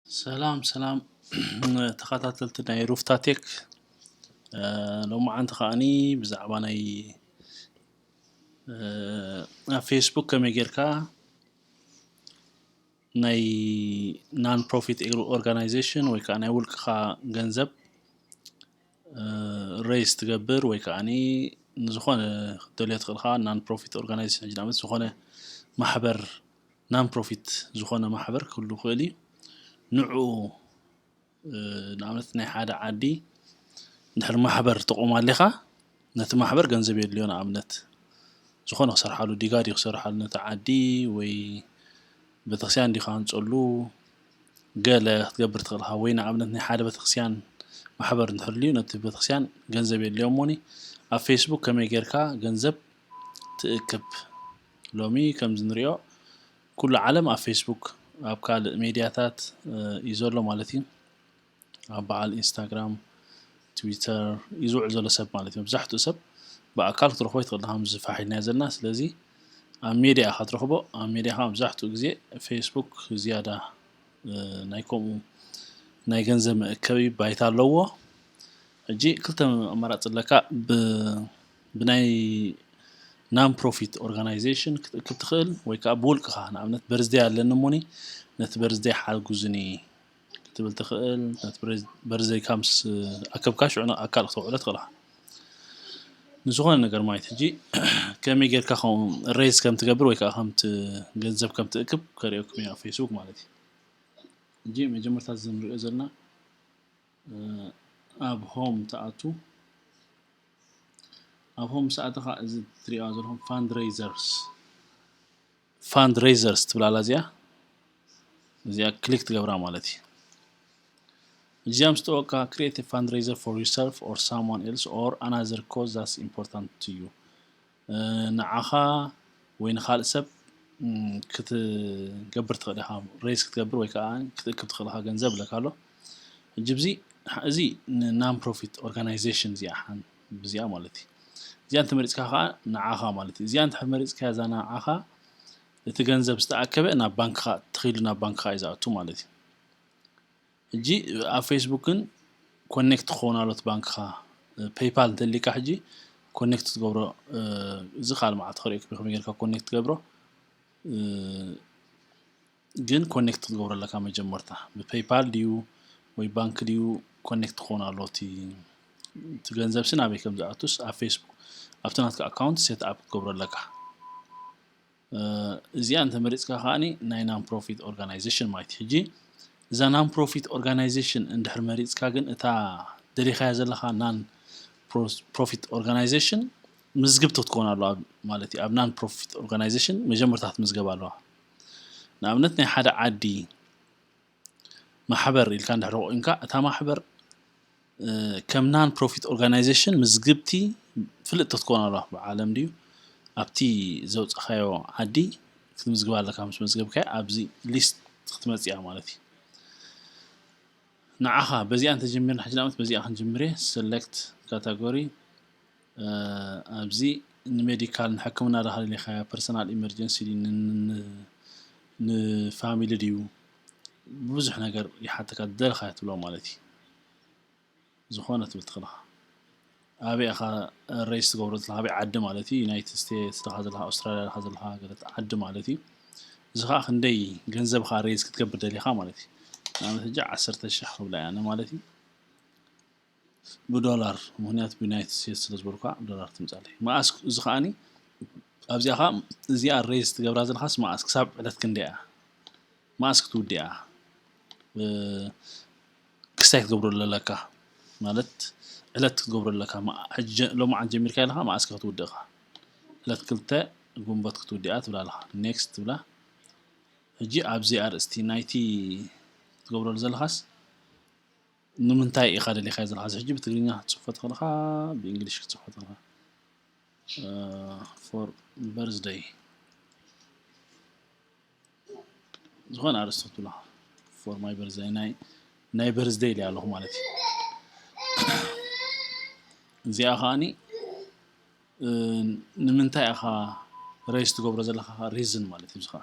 ሰላም ሰላም ተኸታተልቲ ናይ ሩፍታ ቴክ ሎማዓንቲ ከዓኒ ብዛዕባ ናይ ኣብ ፌስቡክ ከመይ ጌርካ ናይ ናን ፕሮፊት ኦርጋናይዜሽን ወይ ከዓ ናይ ውልቅኻ ገንዘብ ሬይዝ ትገብር ወይ ከዓ ንዝኾነ ክትደልዮ ትኽእል ኢኻ ናን ፕሮፊት ኦርጋናይዜሽን ሕጂ ንኣብነት ዝኾነ ማሕበር ናን ፕሮፊት ዝኾነ ማሕበር ክህሉ ይኽእል እዩ ንዑ ንኣብነት ናይ ሓደ ዓዲ እንድሕር ማሕበር ተቖም ኣሊኻ ነቲ ማሕበር ገንዘብ የድልዮ ንኣብነት ዝኾነ ክሰርሓሉ ዲጋ ድዩ ክሰርሓሉ ነቲ ዓዲ ወይ ቤተክርስትያን ድዩ ክሃንፀሉ ገለ ክትገብር ትኽእል ኢኻ ወይ ንኣብነት ናይ ሓደ ቤተክርስትያን ማሕበር እንተልዩ ነቲ ቤተክርስትያን ገንዘብ የድልዮ እሞኒ ኣብ ፌስቡክ ከመይ ጌርካ ገንዘብ ትእክብ ሎሚ ከምዚ ንሪኦ ኩሉ ዓለም ኣብ ፌስቡክ ኣብ ካልእ ሜድያታት እዩ ዘሎ ማለት እዩ። ኣብ በዓል ኢንስታግራም ትዊተር እዩ ዝውዕል ዘሎ ሰብ ማለት እዩ መብዛሕትኡ ሰብ ብኣካል ክትረኽቦ ይትኽእል ከምዚ ፋሕ ኢልናዮ ዘለና ስለዚ ኣብ ሜድያ ኢኻ ትረኽቦ ኣብ ሜድያ ከዓ መብዛሕትኡ ግዜ ፌስቡክ ዝያዳ እ፣ ናይ ከምኡ ናይ ገንዘብ መእከቢ ባይታ ኣለዎ ሕጂ ክልተ ኣማራፂ ኣለካ ብ ብናይ ናን ፕሮፊት ኦርጋናይዜሽን ክትእክብ ትኽእል ወይ ከዓ ብውልቅኻ ንኣብነት በርዝደይ ኣለኒ እሞኒ ነቲ በርዝደይ ሓግዙኒ ክትብል ትኽእል ነቲ በርዘይካ ምስ ኣከብካ ሽዑ ኣካል ክተውዕሎ ትኽእል ኢኻ ንዝኾነ ነገር ማለት ሕጂ ከመይ ጌርካ ከምኡ ሬዝ ከም ትገብር ወይ ከዓ ከምቲ ገንዘብ ከም ትእክብ ከርእየኩም እያ ፌስቡክ ማለት እዩ እንጂ መጀመርታ እዚ ንሪኦ ዘለና ኣብ ሆም ትኣቱ ኣብ ሆም ሰኣተኻ እዚ ትሪኦ ዘለኹም ፋንድሬዘርስ ፋንድ ረይዘርስ ትብል ኣላ እዚኣ እዚኣ ክሊክ ትገብራ ማለት እዩ እዚኣ ምስ ጠወቅካ ክሪኤት ፋንድ ረይዘር ፎር ዩርሰልፍ ኦር ሳምዋን ኤልስ ኦር ኣናዘር ኮዝ ዛስ ኢምፖርታንት ቱ ዩ ንዓኻ ወይ ንካልእ ሰብ ክትገብር ትኽእል ኢኻ ሬስ ክትገብር ወይ ከዓ ክትእክብ ትኽእል ኢኻ ገንዘብ ኣለካ ኣሎ ሕጂ እዚ እዚ ንናን ፕሮፊት ኦርጋናይዜሽን እዚኣ ሓን ብዚኣ ማለት እዩ እዚኣ እንተመሪጽካ ከኣ ንዓኻ ማለት እዩ እዚኣ እንተ መሪጽካያ እዛ ንዓኻ እቲ ገንዘብ ዝተኣከበ ናብ ባንክኻ ተኺሉ ናብ ባንክኻ እዩ ዝኣቱ ማለት እዩ እጂ ኣብ ፌስቡክን ኮኔክት ክኸውን ኣሎት ባንክኻ ፔይፓል እንተሊካ ሕጂ ኮኔክት ትገብሮ እዚ ካል መዓልቲ ክሪኦ ከመይ ጌርካ ኮኔክት ትገብሮ ግን ኮኔክት ክትገብሮ ኣለካ መጀመርታ ብፔይፓል ድዩ ወይ ባንክ ድዩ ኮኔክት ክኸውን ኣለዎ እቲ እቲ ገንዘብ ሲ ናበይ ከም ዝኣቱስ ኣብ ፌስቡክ ኣብቲ ናትካ ኣካውንት ሴት ኣፕ ክትገብሮ ኣለካ እዚኣ እንተመሪፅካ ከዓኒ ናይ ናን ፕሮፊት ኦርጋናይዜሽን ማለት እዩ ሕጂ እዛ ናን ፕሮፊት ኦርጋናይዜሽን እንድሕር መሪፅካ ግን እታ ደሊኻያ ዘለካ ናን ፕሮፊት ኦርጋናይዜሽን ምዝግብቲ ክትከውን ኣለዋ ማለት እዩ ኣብ ናን ፕሮፊት ኦርጋናይዜሽን መጀመርታ ክትምዝገብ ኣለዋ ንኣብነት ናይ ሓደ ዓዲ ማሕበር ኢልካ እንድሕር ኮይንካ እታ ማሕበር ከም ናን ፕሮፊት ኦርጋናይዜሽን ምዝግብቲ ፍልጥቲ ክትኮን ኣለዋ ብዓለም ድዩ ኣብቲ ዘውፃኻዮ ዓዲ ክትምዝግባ ኣለካ ምስ መዝገብካዮ ኣብዚ ሊስት ክትመፅያ ማለት እዩ ንዓኻ በዚኣ እንተጀሚርና ሕጂ ንኣብነት በዚኣ ክንጅምር እየ ሰለክት ካታጎሪ ኣብዚ ንሜዲካል ንሕክምና ዳካ ደሊካዮ ፐርሰናል ኢመርጀንሲ ድዩ ንፋሚሊ ድዩ ብዙሕ ነገር ይሓተካ ዝደለካዮ ትብሎ ማለት እዩ ዝኮነ ትብል ትክል ኢካ ኣበይ ኢካ ሬጅስ ትገብሮ ዘለካ ኣበይ ዓዲ ማለት እዩ ዩናይትድ ስቴትስ ዳካ ዘለካ ኣውስትራልያ ዳካ ዘለካ ገለት ዓዲ ማለት እዩ እዚ ከዓ ክንደይ ገንዘብካ ሬጅስ ክትገብር ደሊካ ማለት እዩ ንኣብነት ሕጂ ዓሰርተ ሽሕ ክብላ እየን ማለት እዩ ብዶላር ምክንያት ብዩናይትድ ስቴትስ ስለ ዝበልኩካ ብዶላር ትምጻለይ መኣስ እዚ ከኣኒ ኣብዚኣ ከኣ እዚኣ ሬዝ ትገብራ ዘለኻስ መኣስ ክሳብ ዕለት ክንደይ እያ መኣስ ክትውድያ ክስታይ ክትገብሮ ዘለካ ማለት ዕለት ክትገብሮ ዘለካ ሎሚ ዓንት ጀሚርካ ኣለካ መኣስ ክትውድእካ ዕለት ክልተ ግንቦት ክትውድኣ ትብላ ኣለካ ኔክስት ትብላ ሕጂ ኣብዚ ኣርእስቲ ናይቲ ክትገብረሉ ዘለኻስ ንምንታይ ኢካ ደሊካዮ ዘለካ እዚ ሕጂ ብትግርኛ ክትጽሕፎ ተክልካ ብእንግሊሽ ክትጽሕፎ ተክልካ for birthday ዝኾነ ኣርእስቲ ክትብሎ ኢኻ for my birthday ናይ ናይ birthday ኢለ ኣለኹ ማለት እዩ እዚኣ ከዓኒ ንምንታይ ኢኻ ሬስ ትገብሮ ዘለካ ሪዝን ማለት እዩ እዚ ከዓ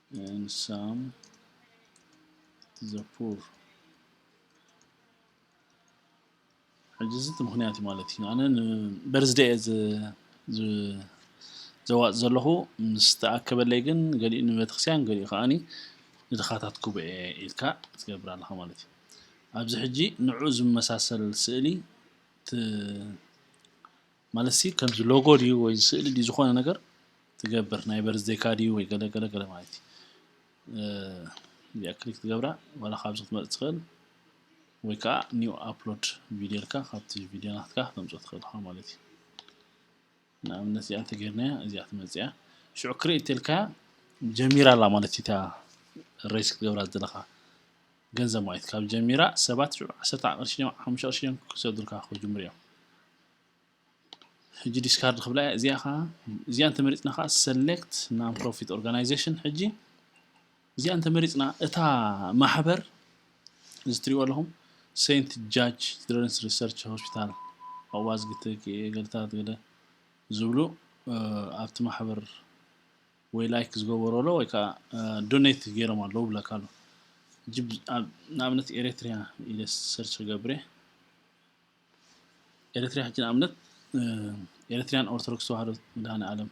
and some the poor ሕጂ እዚ እቲ ምክንያት እዩ ማለት እዩ ኣነ በርዝደ እየ ዘዋፅ ዘለኹ ምስ ተኣከበለይ ግን ገሊኡ ንቤተክርስትያን ገሊኡ ከዓኒ ንድኻታት ጉባኤ ኢልካ ትገብር ኣለኻ ማለት እዩ ኣብዚ ሕጂ ንዑ ዝመሳሰል ስእሊ ማለት ሲ ከምዚ ሎጎ ድዩ ወይ ስእሊ ድዩ ዝኾነ ነገር ትገብር ናይ በርዝዴካ ድዩ ወይ ገለ ገለ ገለ ማለት እዩ እዚኣ ክሊክ ትገብራ ዋላ ካብዚ ክትመፅ ትኽእል ወይ ከዓ ኒው ኣፕሎድ ቪድዮ ኢልካ ካብቲ ቪድዮ ናትካ ክተምፅኦ ትኽእል ኢኻ ማለት እዩ ንኣብነት እዚኣ እንተገይርናያ እዚኣ ትመፅያ ሽዑ ክሬት ኢልካ ጀሚራ ኣላ ማለት እዩ እታ ሬስ ክትገብራ ዘለኻ ገንዘብ ማይት ካብ ጀሚራ ሰባት ሽዑ ዓሰርተ ቅርሺ ድዮም ሓሙሽተ ቅርሺ ድዮም ክሰዱልካ ክጅምሩ እዮም ሕጂ ዲስካርድ ክብላ እያ እዚኣ ከዓ እዚኣ እንተመሪፅና ከዓ ሰሌክት ናን ፕሮፊት ኦርጋናይዜሽን ሕጂ እዚኣ እንተመሪፅና እታ ማሕበር እዚ ትሪእዎ ኣለኹም ሴንት ጃጅ ችልድረንስ ሪሰርች ሆስፒታል ኣዋዝግቲ ገልታት ገለ ዝብሉ ኣብቲ ማሕበር ወይ ላይክ ዝገበሩ ኣሎ ወይ ከኣ ዶኔት ጌሮም ኣለዉ ይብለካ ኣሎ ሕጂ ንኣብነት ኤሬትርያ ኢለ ሰርች ክገብር እየ ኤሬትርያ ሕጂ ንኣብነት ኤሬትርያን ኦርቶዶክስ ተዋህዶ መድሃኒኣለም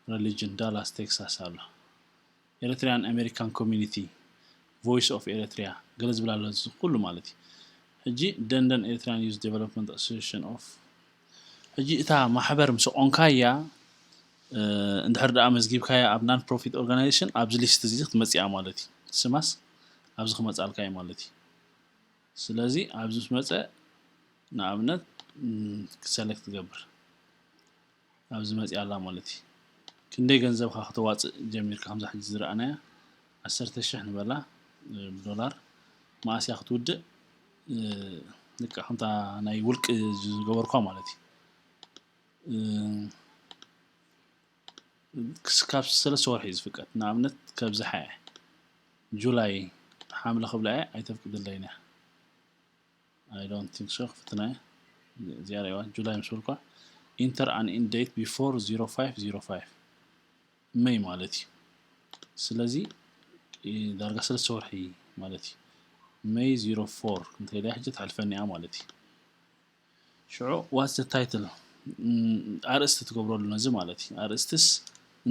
ረሊጅን ዳላስ ቴክሳስ ኣሎ ኤሬትርያን ኣሜሪካን ኮሚኒቲ ቮይስ ኦፍ ኤሬትርያ ገለ ዝብል ኣሎ ኩሉ ማለት እዩ ሕጂ ደንደን ኤሬትርያን ዩዝ ዴቨሎፕመንት ኣሶሴሽን ኦፍ ሕጂ እታ ማሕበር ምስ ኣቆምካያ እንድሕር ደኣ ኣመዝጊብካያ ኣብ ናን ፕሮፊት ኦርጋናይዜሽን ኣብዚ ሊስት እዚ ክትመጽእያ ማለት እዩ ስማስ ኣብዚ ክመጻልካ እዩ ማለት እዩ ስለዚ ኣብዚ ምስ መጸ ንኣብነት ሰለክት ትገብር ኣብዚ መጽያ ኣላ ማለት እዩ ክንደይ ገንዘብካ ክተዋጽእ ጀሚርካ ከምዛ ሕጂ ዝረኣናያ ዓሰርተ ሽሕ ንበላ ዶላር መኣስያ ክትውድእ ልክዕ ከምታ ናይ ውልቂ ዝገበርኳ ማለት እዩ ክስካብ ሰለስተ ወርሒ እዩ ዝፍቀድ ንኣብነት ከብዝሓ እየ ጁላይ ሓምለ ክብላ እየ ኣይተፍቅድለይን እያ ኣይ ዶንት ቲንክ ሶ ክፍትና እየ እዚኣ ሪእዋ ጁላይ ምስ በልኳ ኢንተር ኣን ኢንድ ዴት ቢፎር 0505 መይ ማለት እዩ ስለዚ ዳርጋ ሰለስተ ወርሒ ማለት እዩ መይ ዚሮ ፎር እንተኢለ ሕጂ ትሓልፈኒ እያ ማለት እዩ ሽዑ ዋትስ ታይትል ኣርእስቲ ትገብረሉ ነዚ ማለት እዩ ኣርእስትስ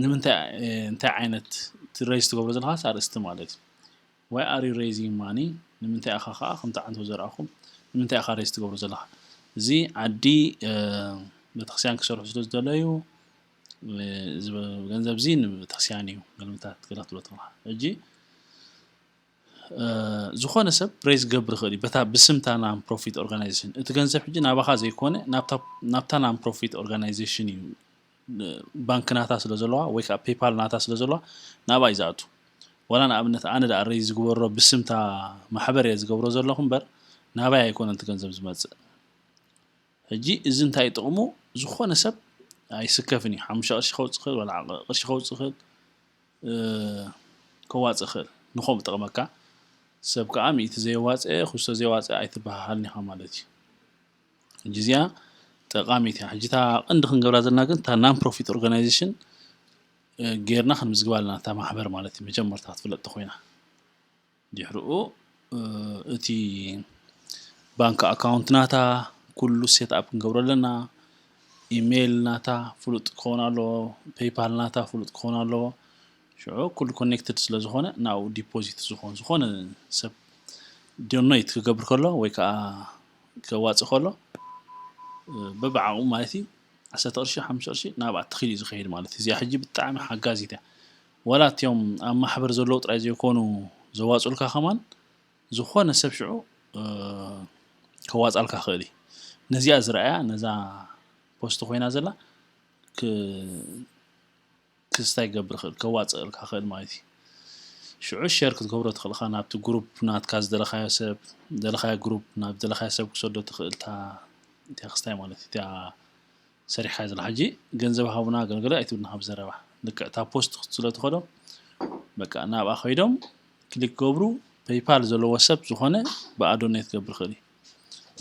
ንምንታይ እንታይ ዓይነት ትረይዝ ትገብሮ ዘለካስ ኣርእስቲ ማለት እዩ ዋይ ኣር ዩ ሬይዚንግ ማኒ ንምንታይ ኢኻ ከዓ ከምቲ ዓንቶ ዘርኣኹ ንምንታይ ኢኻ ሬይዝ ትገብሮ ዘለካ እዚ ዓዲ ቤተክርስትያን ክሰርሑ ስለ ዝደለዩ ገንዘብ ዚ ንቤተክርስቲያን እዩ መልምታት ክትረክብ ተለካ እጂ ዝኾነ ሰብ ፕሬስ ገብር ይኽእል እዩ በታ ብስምታ ናን ፕሮፊት ኦርጋናይዜሽን እቲ ገንዘብ ሕጂ ናባኻ ዘይኮነ ናብታ ናን ፕሮፊት ኦርጋናይዜሽን እዩ ባንክ ናታ ስለ ዘለዋ ወይ ከዓ ፔፓል ናታ ስለ ዘለዋ ናብኣ እዩ ዝኣቱ ዋላ ንኣብነት ኣነ ዳኣ ረይ ዝግበሮ ብስምታ ማሕበር እየ ዝገብሮ ዘለኹ እምበር ናባይ ኣይኮነን እቲ ገንዘብ ዝመፅእ ሕጂ እዚ እንታይ እዩ ጥቕሙ ዝኾነ ሰብ ኣይስከፍን እዩ ሓሙሽተ ቅርሺ ከውፅእ ይኽእል ዋላ ዓቐ ቅርሺ ከውፅእ ይኽእል ከዋፅእ ይኽእል ንኸምኡ ጠቕመካ ሰብ ከዓ ሚእቲ ዘየዋፅአ ክስቶ ዘየዋፅአ ኣይትበሃሃልን ኢኻ ማለት እዩ ሕጂ እዚኣ ጠቃሚት እያ ሕጂ እታ ቀንዲ ክንገብራ ዘለና ግን እታ ናን ፕሮፊት ኦርጋናይዜሽን ጌርና ክንምዝግባ ኣለና እታ ማሕበር ማለት እዩ መጀመርታ ክትፍለጥ ተኮይና ድሕርኡ እቲ ባንክ ኣካውንት ናታ ኩሉ ሴት ኣፕ ክንገብሮ ኣለና ኢሜል ናታ ፍሉጥ ክኸውን ኣለዎ ፔይፓል ናታ ፍሉጥ ክኸውን ኣለዎ ሽዑ ኩሉ ኮኔክትድ ስለ ዝኾነ ናብኡ ዲፖዚት ዝኾን ዝኾነ ሰብ ዶነይት ክገብር ከሎ ወይ ከዓ ከዋፅእ ከሎ በብዓቕሙ ማለት እዩ ዓሰርተ ቅርሺ ሓሙሽተ ቅርሺ ናብኣ ተኺሉ እዩ ዝኸይድ ማለት እዩ እዚኣ ሕጂ ብጣዕሚ ሓጋዚት እያ ዋላ እቲኦም ኣብ ማሕበር ዘለዉ ጥራይ ዘይኮኑ ዘዋጽኡልካ ከማን ዝኾነ ሰብ ሽዑ ከዋጻልካ ክእል እዩ ነዚኣ ዝረኣያ ነዛ ፖስት ኮይና ዘላ ክስታይ ክገብር ክእል ከዋጽእልካ ክእል ማለት እዩ ሽዑ ሸር ክትገብሮ ትኽእልካ ናብቲ ግሩፕ ናትካ ዝደለኻዮ ሰብ ደለኻዮ ግሩፕ ናብ ደለኻዮ ሰብ ክሰዶ ትኽእልታ እቲያ ክስታይ ማለት እዩ እቲያ ሰሪሕካዮ ዘለካ ሕጂ ገንዘብ ሃቡና ገልገለ ኣይትብል ናካ ብዘረባ ልክዕ እታ ፖስት ክት ስለ ትከዶ በቃ ናብኣ ከይዶም ክሊክ ክገብሩ ፐይፓል ዘለዎ ሰብ ዝኮነ ብኣ ዶኔት ክገብር ይክእል እዩ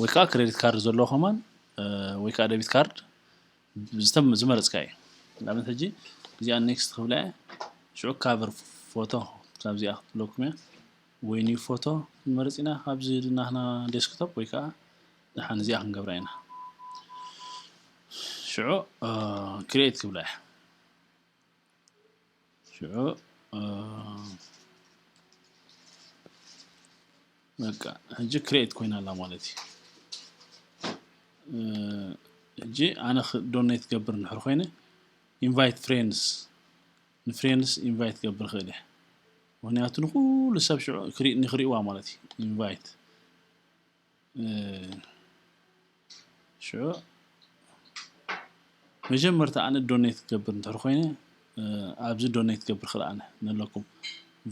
ወይ ከዓ ክሬዲት ካርድ ዘለዎ ከማን ወይ ከዓ ደቢት ካርድ ዝመረፅካ እዩ ንኣብነት ሕጂ እዚኣ ኔክስት ክብላ እየ ሽዑ ካቨር ፎቶ ካብዚኣ ክትብለኩም እያ ወይ ኒው ፎቶ ንመረፅ ኢና ካብዚ ናህና ዴስክቶፕ ወይ ከዓ ደሓን እዚኣ ክንገብራ ኢና ሽዑ ክሬት ክብላ እያ ሽዑ በቃ ሕጂ ክሬት ኮይና ኣላ ማለት እዩ ሕጂ ኣነ ዶኔት ትገብር ንሕር ኮይነ ኢንቫይት ፍሬንስ ንፍሬንስ ኢንቫይት ገብር ክእል እየ ምክንያቱ ንኩሉ ሰብ ሽዑ ንክሪእዋ ማለት እዩ ኢንቫይት ሽዑ መጀመርታ ኣነ ዶኔት ክገብር እንተር ኮይነ ኣብዚ ዶኔት ክገብር ክል ኣነ ነለኩም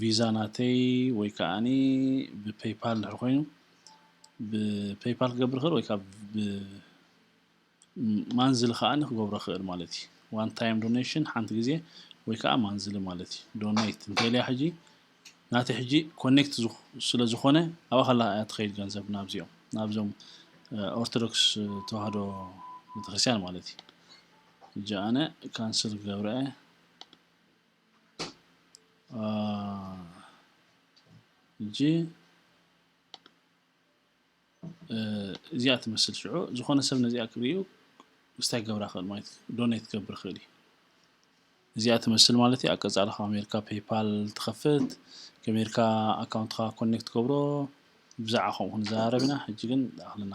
ቪዛ ናተይ ወይ ከዓኒ ብፔይፓል እንድሕር ኮይኑ ብፔይፓል ክገብር ክል ወይ ከዓ ማንዝሊ ከኣ ክገብሮ ይክእል ማለት እዩ ዋን ታይም ዶኔሽን ሓንቲ ግዜ ወይ ከኣ ማንዝሊ ማለት እዩ ዶኔት እንተልያ ሕጂ ናቲ ሕጂ ኮኔክት ስለ ዝኾነ ኣብኣ ከላ እያ ትኸይድ ገንዘብ ናብዚኦም ናብዞም ኦርቶዶክስ ተዋህዶ ቤተክርስትያን ማለት እዩ እጂ ኣነ ካንስል ገብረ እጂ እዚኣ ትመስል ሽዑ ዝኾነ ሰብ ነዚኣ ክርእዩ ምስታይ ክገብራ ክእል ማለት እዩ ዶኔት ክገብር ክእል እዩ እዚኣ ትመስል ማለት እዩ ኣቀፃሊ ካብ ኣሜሪካ ፔይፓል ትኸፍት ከሜርካ ኣካውንትካ ኮኔክት ገብሮ ብዛዕባ ከምኡ ክንዘራረብ ኢና ሕጂ ግን ኣክልና